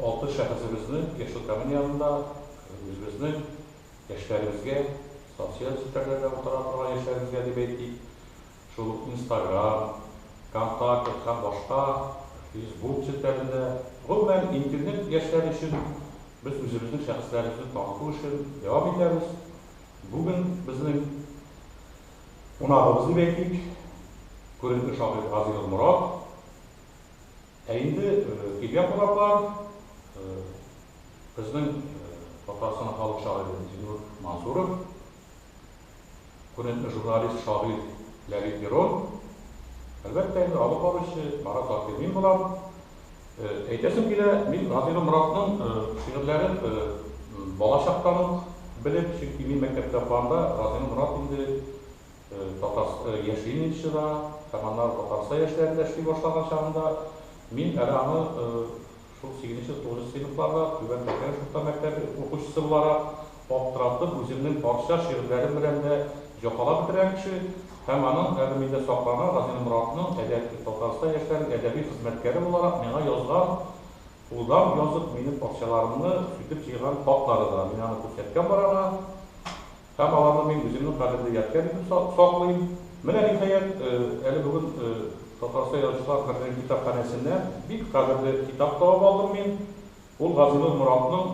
Алты шәхесебезнең яшьлектагын янында үзебезнең яшьләребезгә, социаль челтәрләрдә утыра торган яшьләребезгә дип әйтик, шул ук Инстаграм, Контакет һәм башка Фейсбук челтәрендә, гомумән, Интернет яшьләре өчен без үзебезнең шәхесләребезне таныту эшен дәвам итәбез. Бүген безнең кунагыбыз дип әйтик, күренекле шагыйрь Гази Нурморат. Ә инде килгән кунаклар, безнең Татарстан халык шагыйре Зиннур Мансуров, күренекле журналист, шагыйрь Ләлит Мирон, әлбәттә инде алып баручы Марат Закирмин булар. Әйтәсем килә, мин Газыйгөл Моратның шигырьләрен балачактан ук белеп, чөнки мин мәктәптә укыганда Газыйгөл Морат инде Татарстан яшим инде чыга һәм аннары Татарстан яшьләрендә эшли башлаган чагында мин әле аны шул сигезенче, тугызынчы сыйныфларда Түбән Тәкәлеш урта мәктәбе укучысы буларак аптыратып үземнең парсча шигырьләрем белән дә җафалап бетергән кеше һәм аның әле миндә сакланган Газинур Моратның әдәби Татарстан яшьләренең әдәби хезмәткәре буларак миңа язган кулдан язып минем парсчаларымны сүтеп җыйган хатлары да мин аны күрсәткән бар аңа. Һәм аларны мин үземнең кадерле ядкәр итеп саклыйм. Менә, ниһаять, әле бүген Татарстан Язучылар берлегенең китапханәсеннән бик кадерле китап табып алдым мин. Ул Газинур Моратның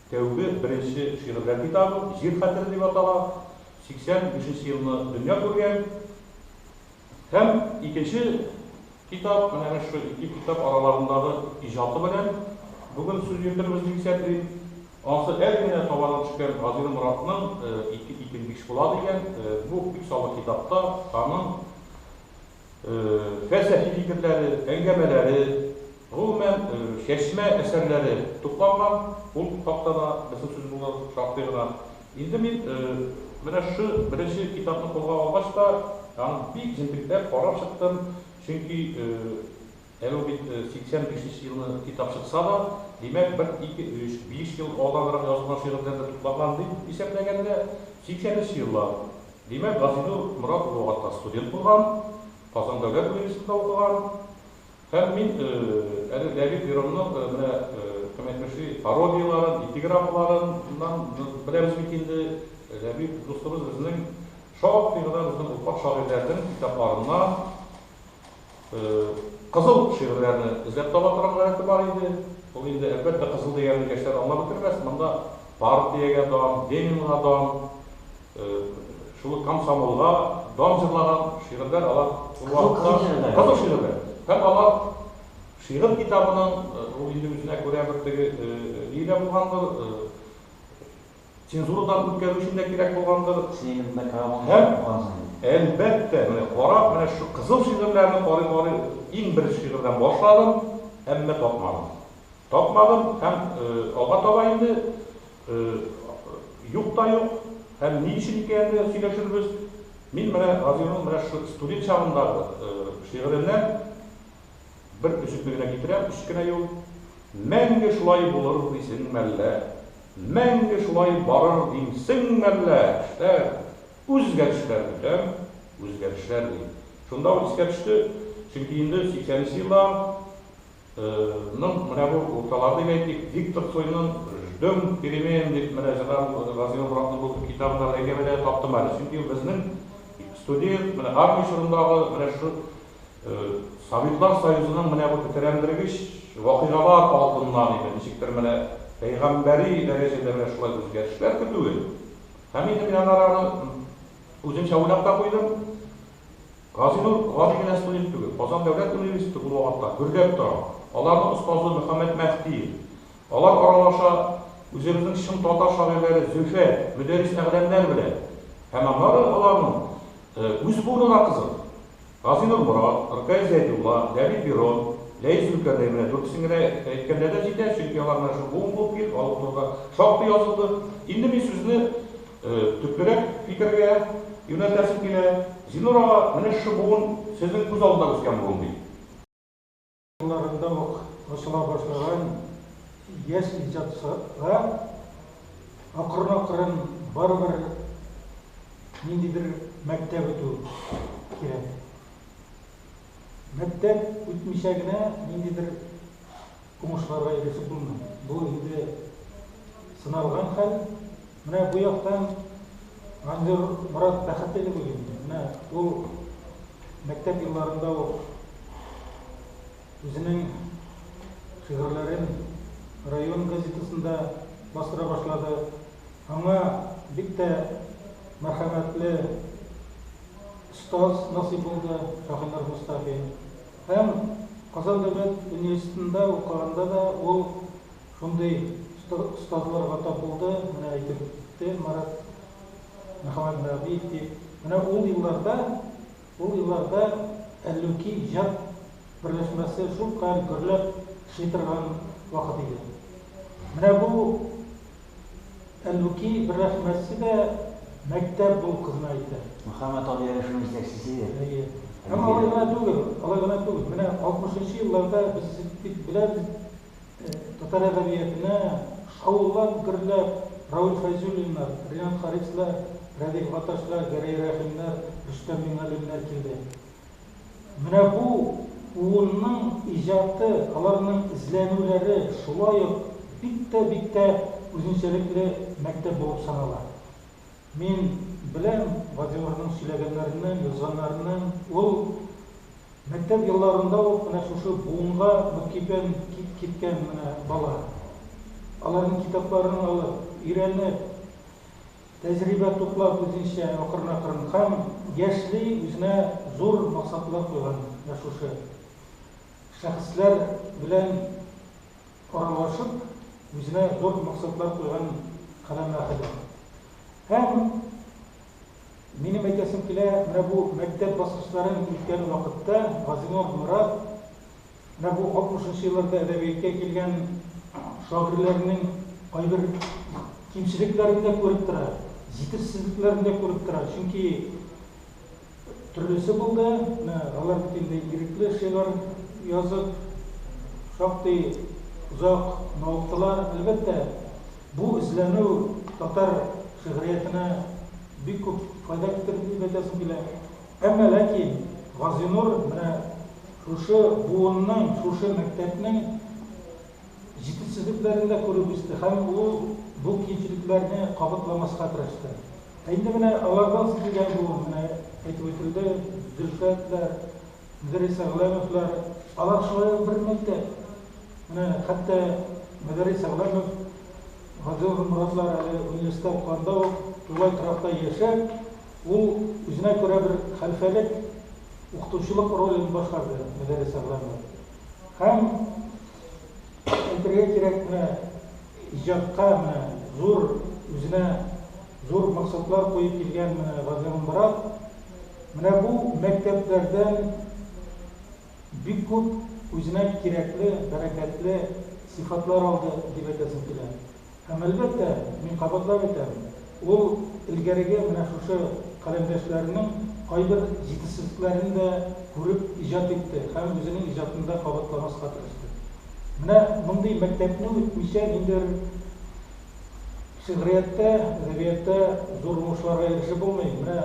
тәүге, беренче шигырьләр китабы, Җир хәтере дип атала. 85 нче елны дөнья күргән. Һәм икенче китап, менә без шул ике китап араларындагы иҗаты белән бүген сүз йөртербез дип исәплим. Ансы әле генә табана төшкән Газил Моратның Ике итем биш була дигән бу күпсанлы китапта аның фәлсәфи фикерләре, әңгәмәләре, гомумән, чәчмә әсәрләре тупланган. Ул хакта да безнең сүз булыр шактый гына. Инде мин менә шы беренче китапны кулга алгач та, аны бик җентекләп карап чыктым, чөнки әле ул бит 85 нче елны китап чыкса да, димәк, бер ике өч, биш ел алданрак язылган шигырьләр дә туплаган дип исәпләгәндә, 80 нче еллар. Димәк, Газинур Морат улы ул вакытта студент булган, Казан дәүләт университетында укыган. Һәм мин әле Леонид Беронның менә кем әйтмешли, пародияләрен, эпиграммаларыннан беләбез бит инде, Леонид дустыбыз безнең шактый гына безнең уртак шагыйрьләрнең китапларыннан кызыл шигырьләрне эзләп таба торган гадәте бар иде. Ул инде, әлбәттә, кызыл дигәнен яшьләр аңлап бетермәс, монда партиягә дан, Ленинга дан, Шул ук комсомолга дан җырлаган шигырьләр алар шул вакытта кызык шигырьләр. Һәм алар шигырь китабының ул инде үзенә күрә бер теге ие дә булгандыр, цензурадан үткәрү өчен дә кирәк булгандыр. Һәм, әлбәттә, менә карап, менә шушы кызыл шигырьләрне карый-карый иң беренче шигырьдән башладым, әмма тапмадым. Тапмадым һәм алга таба инде Юк та юк. Һәм ни өчен икәнен дә сөйләшербез. Мин менә Разыйның менә шушы студент чагындагы шигыреннән бер өзекне генә китерәм, өч кенә юл. Мәңге шулай булыр дисең мәллә? Мәңге шулай барыр димсең мәллә? Эшләр, үзгәрешләр көтәм, үзгәрешләр, ди. Шунда ул искә төште, чөнки инде сиксәненче еллар. Ның менә бу урталар дип әйтик, Виктор Цойның Ждем перемен дип менә җырлаган Гази Нуратның бу китабы да бәйгә бәйләнеп таптым әле. Чөнки безнең студент, менә армия чорындагы менә шушы Советлар Союзының менә бу тетрәндергеч вакыйгалар алдыннан инде ничектер менә пәйгамбәри дәрәҗәдә менә шулай үзгәрешләр көтүе. Һәм инде мин аннары аны үземчә уйлап та куйдым. Газинур гади генә студент түгел, Казан дәүләт университеты булуга хакта гөрләп тора. Аларның остазы Мөхәммәт Мәһдиев. Алар аралаша үзебезнең чын татар шагыйрьләре Зөлфәт, Мөдәррис Әгъләмнәр белән. Һәм аннары аларның үз буыны да кызык. Газинур Морат, Ркаил Зәйдулла, Ләбиб Бирон, Ләис Зөлкарнәй менә дүртесен генә әйткәндә дә җитә, чөнки алар менә шул буын булып килеп, алар турында шактый язылды. Инде мин сүзне Төплерәк фикергә юнәлтәсем килә, Зинур ага, менә шушы буын сезнең күз алдында үскән буын бит. Елларында ук ачыла башлаган яшь иҗатчыга акрын-акрын барыбер ниндидер мәктәп үтү кирәк. Мәктәп үтмичә генә ниндидер. Уңышларга ирешеп булмый. Бу инде сыналган хәл. Менә бу яктан Манзур Морат бәхетле дип уйлыйм мин. Менә ул мәктәп елларында ук үзенең шигырьләрен район газетасында бастыра башлады. Аңа бик тә мәрхәмәтле остаз насыйп булды, Шаһинур Мостафин. Һәм Казан дәүләт университетында укыганда да ул шундый остазларга тап булды, менә әйтеп үтте Марат Мөхәммәтнәбиев дип. Менә ул елларда, ул елларда Әллүки иҗат берләшмәсе шулкадәр гөрләп эшли торган вакыт иде. Менә бу Әллүки бер рәхмәтсе дә мәктәп бул кызына әйтә. Мөхәммәт абый әле шуны җитәкчесе. Әйе. Һәм алай гына түгел, алай гына түгел. Менә алтмышынчы елларда без бит беләбез, татар әдәбиятына шаулап, гөрләп Равил Фәйзуллиннар, Ринат Харислар, Рәдиф Гаташлар, Гәрәй Рәхимнәр, Рөстәм Миңгалимнәр килде. Менә бу буынның иҗаты, аларның эзләнүләре шулай ук бик тә, бик тә үзенчәлекле мәктәп булып санала. Мин беләм Владимирның сөйләгәннәреннән, язганнарыннан, ул мәктәп елларында ук менә шушы буынга мөкиббән киткән менә бала. Аларның китапларын алып, өйрәнеп, Тәҗрибә туплау үзенчә акрынакрын һәм яшьли үзенә зур максатлар куйган менә шушы шәхесләр белән аралашып, үзенә зур максатлар куйган каләм әһеле. Һәм минем әйтәсем килә, менә бу мәктәп баскычларын үткән вакытта Газинур Морат Менә бу алтмышынчы елларда әдәбияткә килгән шагыйрьләрнең кайбер кимчелекләрен дә күреп тора, җитешсезлекләрен дә күреп тора. Чөнки төрлесе булды. Менә алар бит инде ирекле шигырь язып, шактый озак мавыктылар. Әлбәттә, бу эзләнү татар шигъриятенә бик күп файда китерде дип әйтәсем килә. Әмма ләкин Газинур менә. Шушы буынның, шушы мәктәпнең җитешсезлекләрен дә күреп үсте һәм ул бу кимчелекләрне кабатламаска тырышты. Ә инде менә алардан соң килгән буын, менә әйтеп үтелде, Зөлфәтләр, Мөдәррис Әгъләмовлар, алар шулай ук бер мәктәп. Менә хәтта Мөдәррис Әгъләмов, Вадил Морадлар әле университет укыганда ук тулай торакта яшәп, Ул үзенә күрә бер хәлфәлек, укытучылык ролен башкарды Мөдәррис Әгъләмов. Һәм, әйтергә кирәк, менә иҗатка менә зур, үзенә зур максатлар куеп килгән менә Газирамбырат, менә бу мәктәпләрдән бик күп үзенә кирәкле, бәрәкәтле сыйфатлар алды, дип әйтәсем килә. Һәм, әлбәттә, мин кабатлап әйтәм, ул элгәреге менә шушы каләмдәшләренең кайбер җитешсезлекләрен дә күреп иҗат итте һәм үзенең иҗатында кабатламаска тырышты. Менә мондый мәктәпне үтмичә ниндидер шигърияттә, әдәбиятта зур уңышларга ирешеп булмый. Менә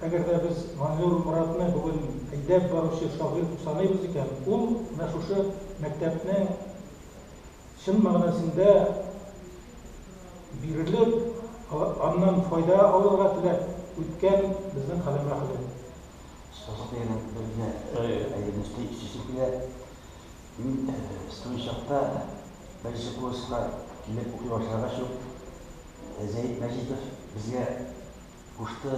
әгәр дә без Манзур Моратны бүген әйдәп баручы шагыйрь дип саныйбыз икән, ул менә шушы мәктәпне чын мәгънәсендә бирелеп, аннан файда алырга теләп үткән безнең каләмә каләм. Сазлык дигәннән бер генә әйберне өстәп үтәсем килә. Мин студент чакта беренче курска килеп укый башлагач ук Зәет Мәҗитов безгә кушты.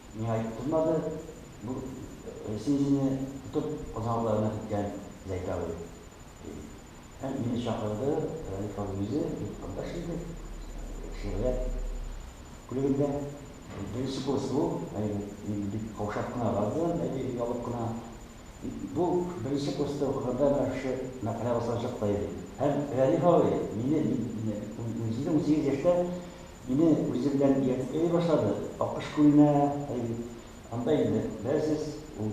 Миңа итеп тотмады, бу син үзеңне тотып Казанлыларына киткән Зәйтү абый, ди. Һәм мине чакырды, Рәлиф абый үзе, бик кардәш инде, шигърият бүлегендә беренче курс ул, әйе, мин бик каушап кына бардым, әйе, оялып кына. Бу беренче курста укыганда менә шушы мәкалә басылачак та иде. Һәм Рәлиф абый мине, мин үземне унсигез яшьтә Мине үзе белән иярткә дә башлады. Акыш күленә, әй бит, анда инде, беләсез, ул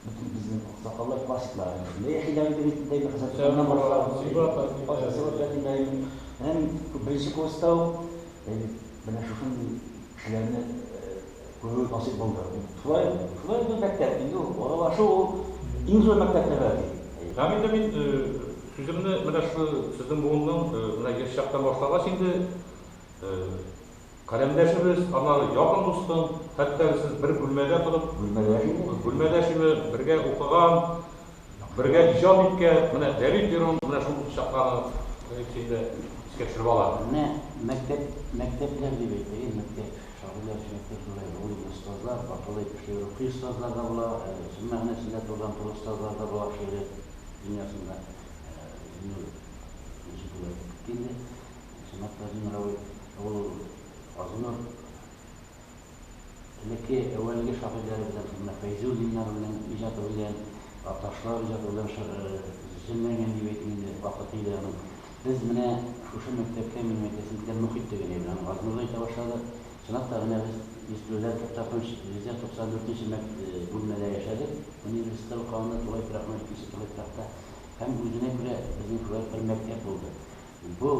бөтен безнең аксакаллар, классиклар әнә шунда яшиләр иде бит, инде хәзер туганнан башлап. Менә мин беренче курста ук, әй бит, менә шушындый кешеләрне Күрү насыйп булды. Шулай, шулай инде ул мәктәп, инде ул аралашу ул иң зур мәктәп дә бәлки. Һәм инде мин сүземне менә шул сезнең буынның менә яшь чактан башлагач инде каләмдәшебез, аннары якын дустым, хәтта сез бер бүлмәдә торып, бүлмәдәш инде, бүлмәдәш инде, бергә укыган, Бергә иҗат иткән, менә Дәвид җырын менә шул чакларны эчендә искә төшереп ала. Менә мәктәп, мәктәпләр дип әйтәйен, мәктәп, шагыйрьләр өчен мәктәп шулай, гыйлем остазлар, бакалы кеше рухи остазлар да була, әле чын мәгънәсендә турыдан туры остазлар да була шигърият дөньясында. Зиннур ничек була итеп китте инде, чынлап та Зиннур абый, ул Газинур. элекке әүвәлге шагыйрьләре белән Хәммә Фәйзуллиннар белән иҗаты белән Ташлар иҗаты белән шы земләнгән дип әйтим инде вакыты иде аның. Без менә шушы мәктәпкә минем әйтәсем килә мохит дигән әйбер аны Газнурда әйтә башладык. Чынлап та менә без ястүләр туктатмыш йөз дә туксан дүртенче мәк бүлмәдә яшәдек университетта укыганда тулай торакның икенче тулай торакта һәм үзенә күрә безнең шулай бер мәктәп булды. Бу,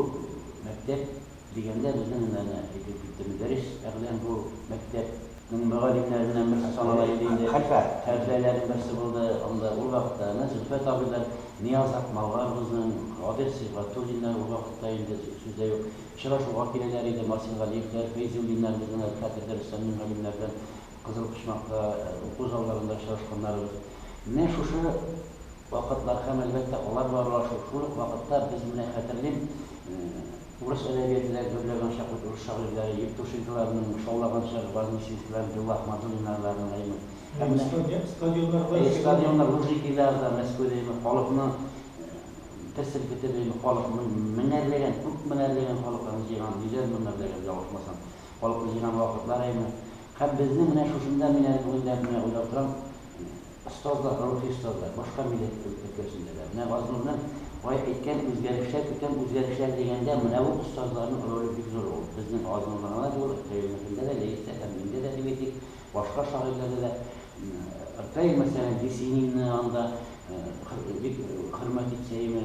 мәктәп, дигәндә безнең генә генә әйтеп китте Мөдәррис әгъләм бу, мәктәп, нең мөгаллимнәреннән берсе санала иде инде, хәлфә, хәлфәләрнең берсе булды анда ул вакытта, әнә Зөлфәт абый да, Нияз Акмалларыбызның, Кадыйр Сибгатуллиннар ул вакытта инде сүз дә юк, очрашуга киләләр иде Марсингалиевләр, Фәйзуллиннар безнең әле хәтердә Рөстәм Мингалимнәр белән Кызыл почмакта, уку залларында очрашканнарыбыз. Менә шушы вакытлар һәм, әлбәттә, алар белән аралашу. Шул ук вакытта без, менә хәтерлим, урыс әдәбияты да гөрләгән чак бит, урыс шагыйрьләре Евтушенколарның шаулаган чагы, Вознесенскийлар, Белла Ахмадуллиннарларның да имеш. Һәм менә стадионнарда, әйе, стадионнар, Лужникиларда, Мәскәүдә имеш, халыкны бер селкетеп, имеш, халыкны меңәрләгән, күп меңәрләгән халыкларны җыйган, йөзәр меңәрләгән, ялгышмасам. Калку җыйган вакытлар әйме. Һәм безнең менә шушында мин әле бүген дә менә уйлап торам, остазлар, рухи остазлар, башка милләт өлкәсендә дә. Менә Газнурның бай әйткән үзгәрешләр, күтәм үзгәрешләр дигәндә менә бу остазларның роле бик зур ул. Безнең Газнурда гына түгел, Ркаилныкында да, Ләистә һәм миндә дә дип әйтик, башка шагыйрьләрдә дә. Ркаил мәсәлән, Есенинны анда бик хөрмәт итсә әйме.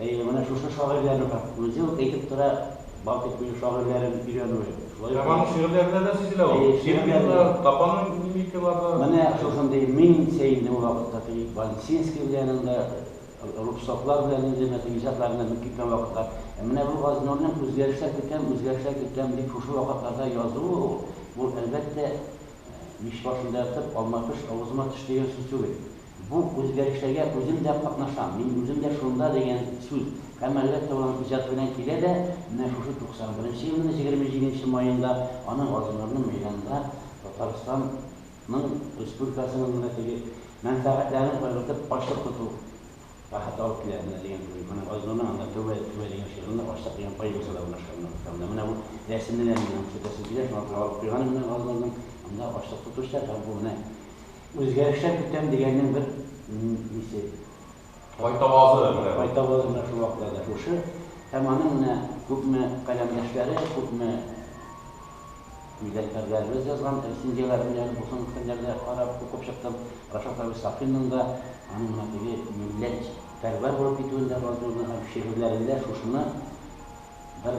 Әйе, менә шушы шагыйрьләрнең һәм үзе үк әйтеп тора, Балтыйк минем шагыйрьләрем өйрәнүе. Шулай ук. Һәм аның шигырьләрендә дә сизелә ул. Әйе, шигырьләрендә. Тапанның мимикалары. Менә шушындый мин сә инде ул вакытта Филипп Вансинский белән анда Рубцовлар белән инде мәсәлән иҗатларында менеп киткән вакытлар. Ә менә бу Газнурның үзгәрешләр көтәм, үзгәрешләр көтәм дип шушы вакытларда язуы ул, бу, әлбәттә, мич башында ятып, алма пеш, авызыма төш дигән сүз түгел. Бу үзгәрешләргә үзем дә катнашам, мин үзем дә шунда дигән сүз һәм әлбәттә ул аның иҗаты белән килә дә, менә шушы 91 елның 27 маенда аны Газинурның мәйданында Татарстан ның республикасының менә теге мәнфәгатьләрен кайгыртып ачлык тоту рәхәте алып килә менә дигән уй менә Газинурның анда Тәүбә Тәүбә дигән шигырендә ачлык дигән поэмасы да урнашкан менә бу китабында менә бу рәсемне дә мин аның күрсәтәсем килә шуңа күрә алып куйганым менә Газинурның анда ачлык тотучылар һәм бу менә Үзгәрешләр көтәм дигәннең бер нисе. Кайтавазы менә бу. Кайтавазы менә шул вакытта да шушы. Һәм аның менә күпме каләмдәшләре, күпме милләттәшләребез язган рецензияләр менә язып булсын фәннәрдә карап, укып чыктым. Рашат абый Сафинның да аның менә теге милләтпәрвәр булып китүен дә язуын һәм шигырьләрендә шушыны бер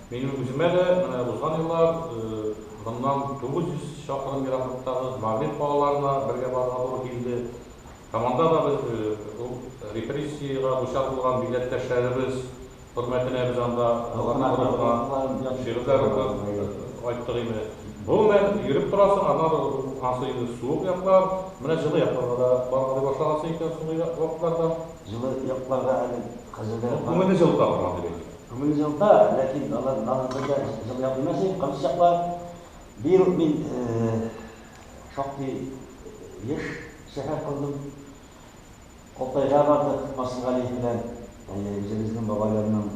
Минем үземә дә менә узган еллар моннан 900 чакрым ераклыктагы Мавлид калаларына бергә барырга туры килде һәм анда да без ул репрессиягә дучар булган милләттәшләребез хөрмәтенә без анда шигырьләр укып кайттык инде. Гомумән, йөреп торасың, аннан ансы инде суык яклар, менә җылы якларга да баргалый башлагансың икән соңгы вакытларда. Җылы якларга әле хәзергә. Күңелне җылыта торган дип әйтик. Күңел җылыта, ләкин алар барлык җирдә җылыя белмәс иде, кырыс чаклар. Быел ук мин шактый еш сәфәр кылдым. Алтайга бардык Фасылгали белән, үзебезнең бабайларның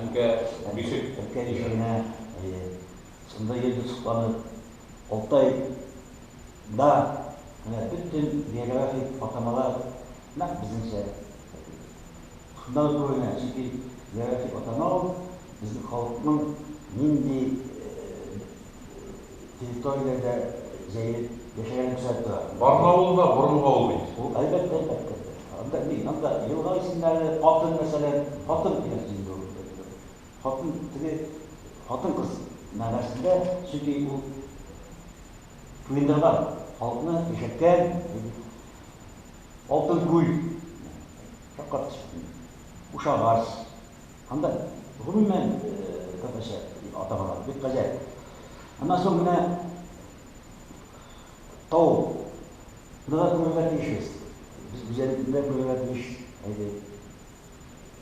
Әнкә бишек Әнкә бишегенә, әйе, шунда йөрдек сокланып. Алтай да менә бөтен географик атамалар, Нәкъ безнеңчә әти. Шунда да туры генә, чөнки зират дип атама ул безнең халыкның нинди территорияләрдә җәелеп яшәгәнен күрсәтеп тора. Барнаул да борынгы авыл бит. Ул, әлбәттә, әлбәттә. Анда ни, анда елга исемнәре, хатын, мәсәлән, хатын дигән сүз инде ул. Хатын, теге хатын-кыз мәгънәсендә, чөнки ул туендырган, халыкны яшәткән, ди бит. Алтын күл, шаккатып чыктым. Кушагач, анда гомумән татарча атамалар бик гаҗәп. Аннан соң менә тау, ныга күрергә тиешбез. Без гүзәллекне күрергә тиеш, әйди,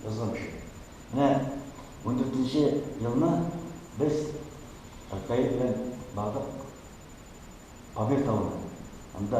язган кеше. Менә ундүртенче елны без Фәтхәй белән бардык Памир тавына. Анда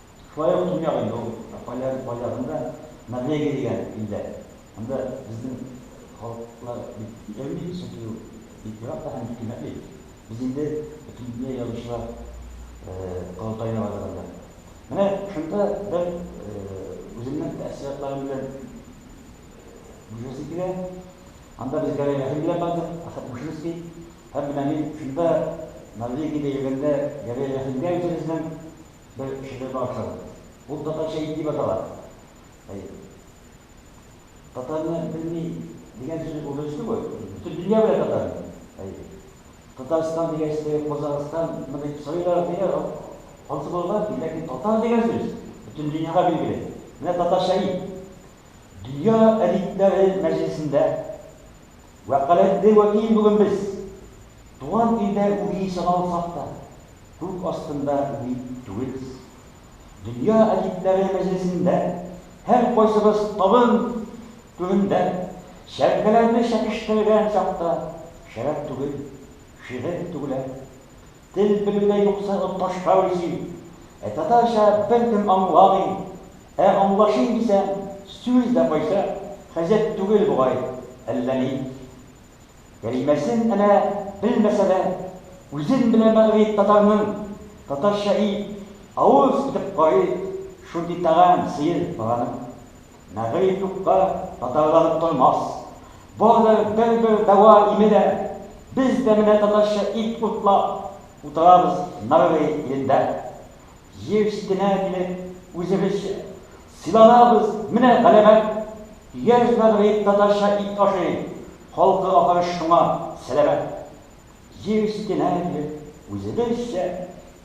Шулай ук Төньяк инде ул, ә кайларын кайларын да Норвегия дигән илдә. Анда безнең халыклар бик йөрми, чөнки ул бик ерак та һәм бик кыйммәтле ил. Без инде Бөтендөнья язучылар корылтаена бардык анда. Менә шунда бер үземнең тәэссоратларым белән бүлешәсем килә. Анда без Гәрәй Рәхим белән бардык, Әхәт Мушинский. Һәм менә мин шунда Норвегиядә йөргәндә Гәрәй Рәхимгә үзебезнең Бер кешене генә охшадым. Ул татарча ит дип атала. Әйе. Татарны белми дигән сүзне булдырыйсызмы бу? Бөтен дөнья белә татарны. Әйе. Татарстан дигәч, теге Казахстан мы дип сорыйлар, дигән ансы булган ки, ләкин татар дигән сүз бөтен дөньяга билгеле. Менә татарча ит. Дөнья әдипләре мәҗлесендә Вәкаләтле вәкил бүген без, туган илдә үги саналсак та, күк астында үги түгелбез. Дөнья әдипләре мәҗлесендә һәркайсыбыз табын төбендә чәркәләрне чәкештерелгән чакта шәраб түгел, шигырь түгелә. Тел белүдә юкса ут ташка үрсин. Ә татарча беркем аңламый. Ә аңлашыйм дисәң, сүз дә кайсы, хәзер түгел бугай, әллә ни. Кәлимәсен әнә белмәсә дә, үзен белә мәгърип татарның, татарча и, авыз итеп карый, шундый тәгам, сыер, бараның. Мәгәй юкка татарланып тормас. Бардыр бер-бер дәва име дә. Без дә менә татарча ит уртлап утырабыз Нарве илендә. Җир читенә килеп, үзебезчә сыйланабыз, менә галәмәт. Яшь Нарве татарча ит ашый, халкы ахры шуңа сәламәт. Җир читенә килеп, үзебезчә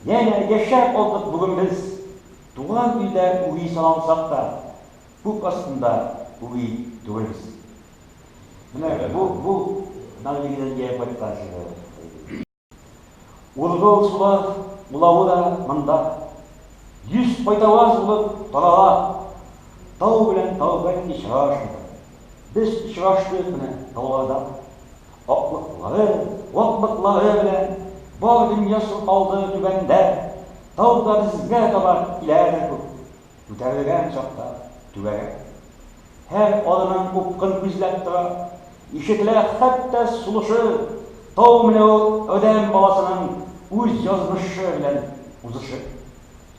янә яшәп алдык бүген без. Туган илдә үги саналсак та, күк астында үги түгелбез. Менә бу, бу Норвегиядән ияеп кайткан шигырь иде. Ургыл сулар улавы да монда, йөз кайтаваз булып тарала. Тау белән тау бәлки очрашмыйдыр. Без очраштык менә тауларда, Аклыклары, ваклыклары белән бар дөнья чолпалды Түбәндә, тауда безгә таба киләдер күк. Күтәрелгән чакта түгәрәк. Һәр адымын упкын күзләп тора. Ишетелә хәтта сулышы, Тау менә ул адәм баласының үз язмышы белән узышы.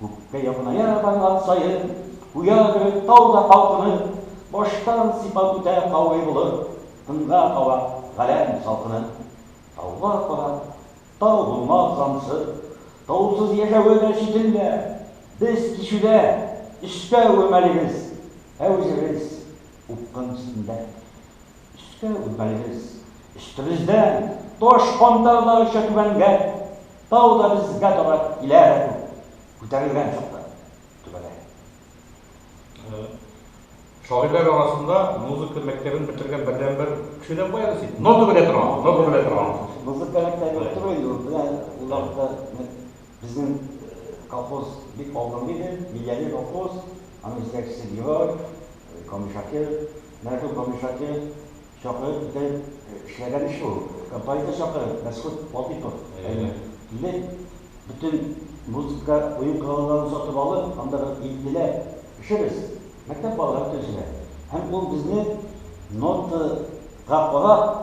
Күккә якыная барган саен, Куя кебек тау да калкынып, Баштан сыйпап үтә каурый болыт, Тынга кала галәм салкынып. Тауга карап, тау булмас җансы, Таусыз яшәве дә читендә. Без кичүдә, өскә үрмәлибез, Ә үзебез, упкын өстендә. Өскә үрлибез. Өстебездән таш кантардагыча түбәнгән тау да безгә таба килә дә күк күтәрелгән чакта төбәлә. Шагыйрьләр арасында музыка мәктәбен бетергән бердәнбер кеше дә кая син? Нота белә торган, нота белә торган. Музыка мәктәбе юк түгел инде, ул белән ул вакытта безнең колхоз бик алдынгы иде, Миләли колхоз, аның җитәкчесе Герой, Камыш Шакир. Мәгъфүр Камишаки чакырып итеп эшләгән эш ул. Композитор чакырып, Мәсхүт Ватыйпов әйе, килеп, бөтен музыка, уен коралларын сатып алып, анда бер илтеләп эшебез, мәктәп балалары төзелә. Һәм ул безне нотага карап,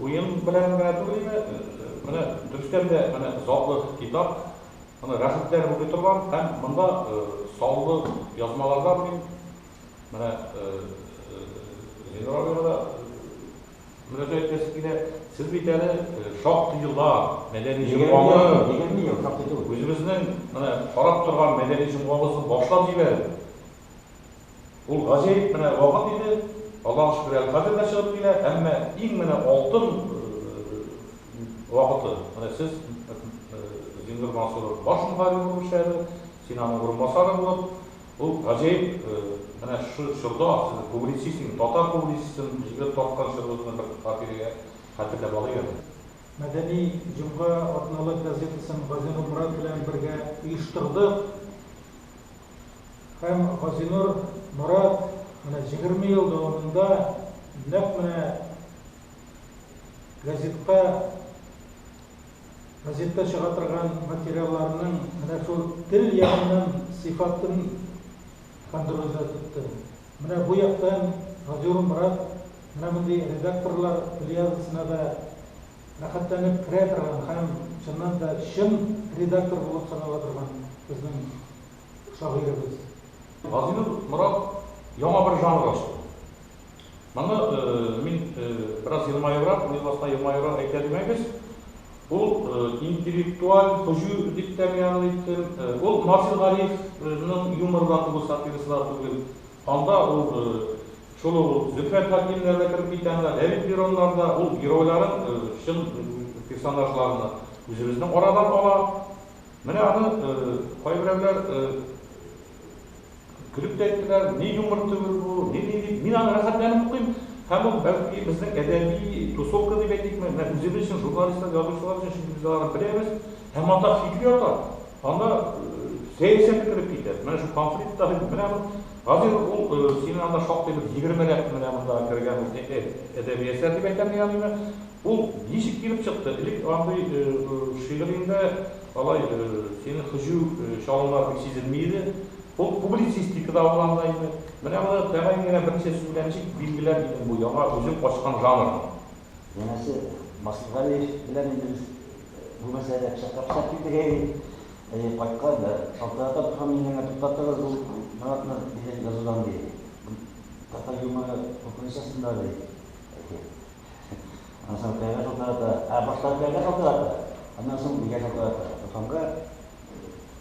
Уен белән генә түгел иде, менә дөрестән дә менә затлы китап, аны рәхәтләнеп укый торган һәм монда саллы язмалардан мин менә Зиннур абыйга да мөрәҗәгать итәсе килә, сез бит әле шактый еллар мәдәни җомганы, үзебезнең менә карап торган мәдәни җомгабызны башлап җибәреп, Ул гаҗәеп менә вакыт иде, Аллаһыга шөкер, әле хәзер дә чыгып килә, әмма иң менә алтын вакыты, менә сез Зингер Мансуров баш мөхәррир булып эшләде, син аның урынбасары булып, ул гаҗәеп менә шушы чорда сез публицист инде, татар публицистын җигеп тарткан чорыгызны бер хатирәгә хәтерләп алыйк әле. Мәдәни җомга атналык газетасын Газинур Морат белән бергә оештырдык. Һәм Газинур Морат менә җигерме ел дәвамында нәкъ менә газетка, газетта чыга торган материалларның менә шул тел ягыннан сыйфатын контрольдә тотты. Менә бу яктан Газиур Морат менә мондый редакторлар плеядасына да рәхәтләнеп керә торган һәм, чыннан да, чын редактор булып санала торган безнең шагыйребез. Газинур Морат яңа бер жанр ачты. Моны мин бераз елмаебрак, уен астыннан елмаебрак әйтә димәгез, ул интеллектуаль һөҗү дип тә мин аны әйттем. Ул Марсель Гарифның юморы да түгел, сатирасы да түгел. Анда ул шул ук Зөфәр Хәкимнәр дә кереп китә анда, Рәмил Мироннар да, ул геройларын, чын персонажларны үзебезнең арадан ала. Менә аны кайберәүләр көлеп тә әйттеләр, ни юмор түгел бу, ни ни дип. Мин аны рәхәтләнеп укыйм һәм ул, бәлки, безнең әдәби тусовка дип әйтикме, менә үзебез өчен, журналистлар, язучылар өчен, чөнки без аларны беләбез. Ә матах чиге ята, анда сәясәт кереп китә. Менә шул конфликт та бит, менә бу. Хәзер ул синең анда шактый бер егермеләп менә монда кергән ул әдәби әсәр дип әйтәм мин аны. Ул ничек килеп чыкты? Элек андый шигыреңдә алай синең һөҗү чалымнар бик сизелми иде. Ул публицистикада ул анда инде. Менә моны тәгаен генә берничә сүз белән ничек билгеләр идең бу яңа үзең ачкан жанрны? Янәсе, Масхадгалиев белән инде без Булмаса әле пычак япсак идек, әйе. Әйе, кайткан да шалтырата торган мин генә туктатыгыз ул Маратны дигән язудан, ди. Бу татар юморы куркыныч астында, ди. Әйе. Аннан соң каягә шалтырата. Ә башта каягә шалтырата, аннан соң бигә шалтырата. Туканга.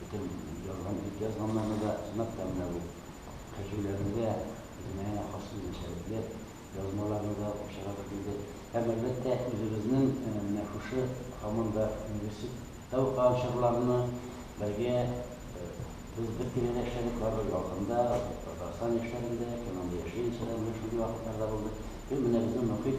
Бөтен язган, бит язганнарны да сынап та менә бу кәҗүләрендә үзенә хас үзенчәлекле язмаларны да очратып килде. Һәм, әлбәттә, үзебезнең менә шушы һаман да университетта укыган чорларны бергә без бер тирәдә эшләдек бардык, Ялкында, Татарстан яшьләрендә, Кәмәндә яшьлек яшьләрендә менә шундый вакытлар да булды. Һәм менә безнең мохит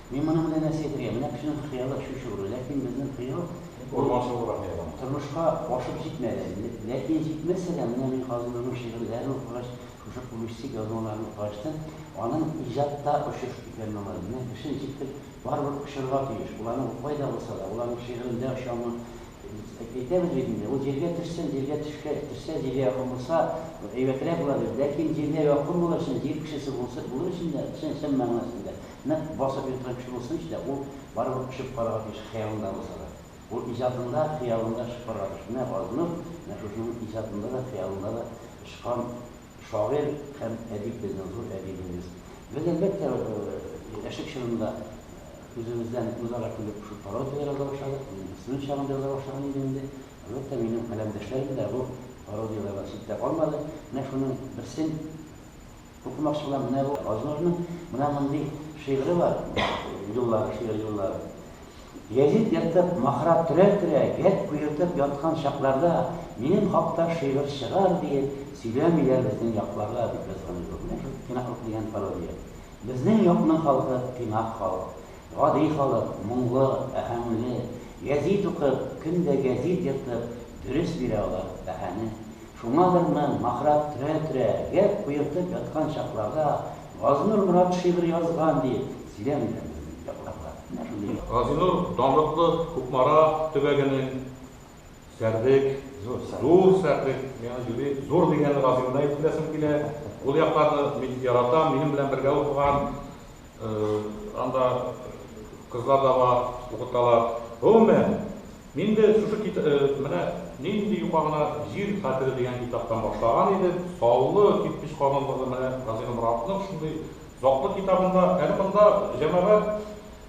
Мин моның белән нәрсә әйтергә? Менә кешенең хыялы шушы гына. Ләкин безнең хыял ул тормышка ашып җитмәде. Ләкин җитмәсә дә, менә мин хәзер аның шигырьләрен укыгач, шушы публистик язмаларын укыгач та, аның иҗатта очыш икәнен аңладым. Менә кешене җиткер, барыбер очырга тиеш. Ул аны укымай да булса да, ул аның шигырендә очамы, әйтәбез бит инде, ул җиргә төшсен, җиргә төшкә төшсә, җиргә якын булса, әйбәтрәк була дип. Ләкин җиргә якын булыр өчен, җир кешесе булса булыр өчен дә, чын чын мәгънәсендә, Нык басып йоткан чулысын эч тә, ул барыбер очып карарга тиеш, хыялында булса да. Ул иҗатында, хыялында очып карарга тиеш. Менә Газинур, менә шушының иҗатында да, хыялында да очкан шагыйрь һәм әдип безнең, зур әдибебез. Без, әлбәттә, яшьлек чорында үзебездән үзара көлеп шул пародия яза башладык. Мин студент чагымда яза башлаган идем инде. Әлбәттә, минем каләмдәшләрем дә бу пародияләрдән читтә калмады. Менә шуның берсен Укымакчы булам, менә бу Азурның менә мондый шигыре бар, юллары, шигырь юллары. Гәзит ертып, махра төрә-төрә, гәп куертып яткан чакларда минем хакта шигырь чыгар, диеп сөйләмиләр безнең якларда, дип язган иде ул. Менә шул тыйнаклык дигән пародия. Безнең якның халкы тыйнак халык. Гади халык, моңлы, бәһаңле. Гәзит укып, көн дә гәзит ертып, дөрес бирә алар бәһане. Шуңадыр мен, махрак төрә-төрә, гәп куертып яткан чакларда Газинур Морат шигырь язган диеп сөйләмиләрме безнең якларда? Менә шундый. Газинур данлыклы Кукмара төбәгенең Сәрдек, Зур Сәрдек, миңа юри Зур дигәнне Газинурда әйтеп беләсем килә, ул якларны мин яратам, минем белән бергә укыган, Анда кызлар да бар, укыталар. Гомумән, мин дә шушы кит менә Нинди юка гына җир хәтере дигән китаптан башлаган идем. Саллы кирпеч казылыгы менә Газинур Моратовның шундый затлы китабында. Әле монда җәмәгать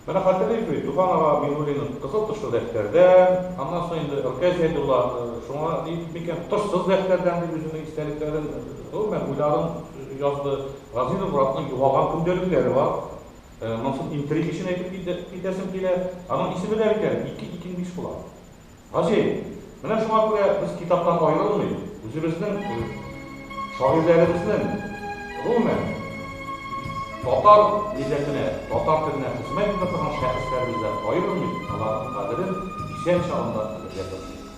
менә хәтерлик бит, Туфан ага Миңнуллинның Кызыл тышлы дәфтәрдән, аннан соң инде Ркәй Зәйдулла шуңа дип микән, Тышсыз дәфтәрдән дип үзенең истәлекләрен, гомумән, уйларын язды. Газиз Муратның югалган көндәлекләре бар. Монысын интриг өчен әйтеп китәсем килә. Аның исеме дә бит әле ике икең биш була. Гаҗәеп. Менә шуңа күрә без китаптан аерылмый, үзебезнең шагыйрьләребезнең, гомумән, татар милләтенә, татар теленә хезмәт итә торган шәхесләребездән аерылмыйк, аларның кадерен исән чагында белергә тырышыйк.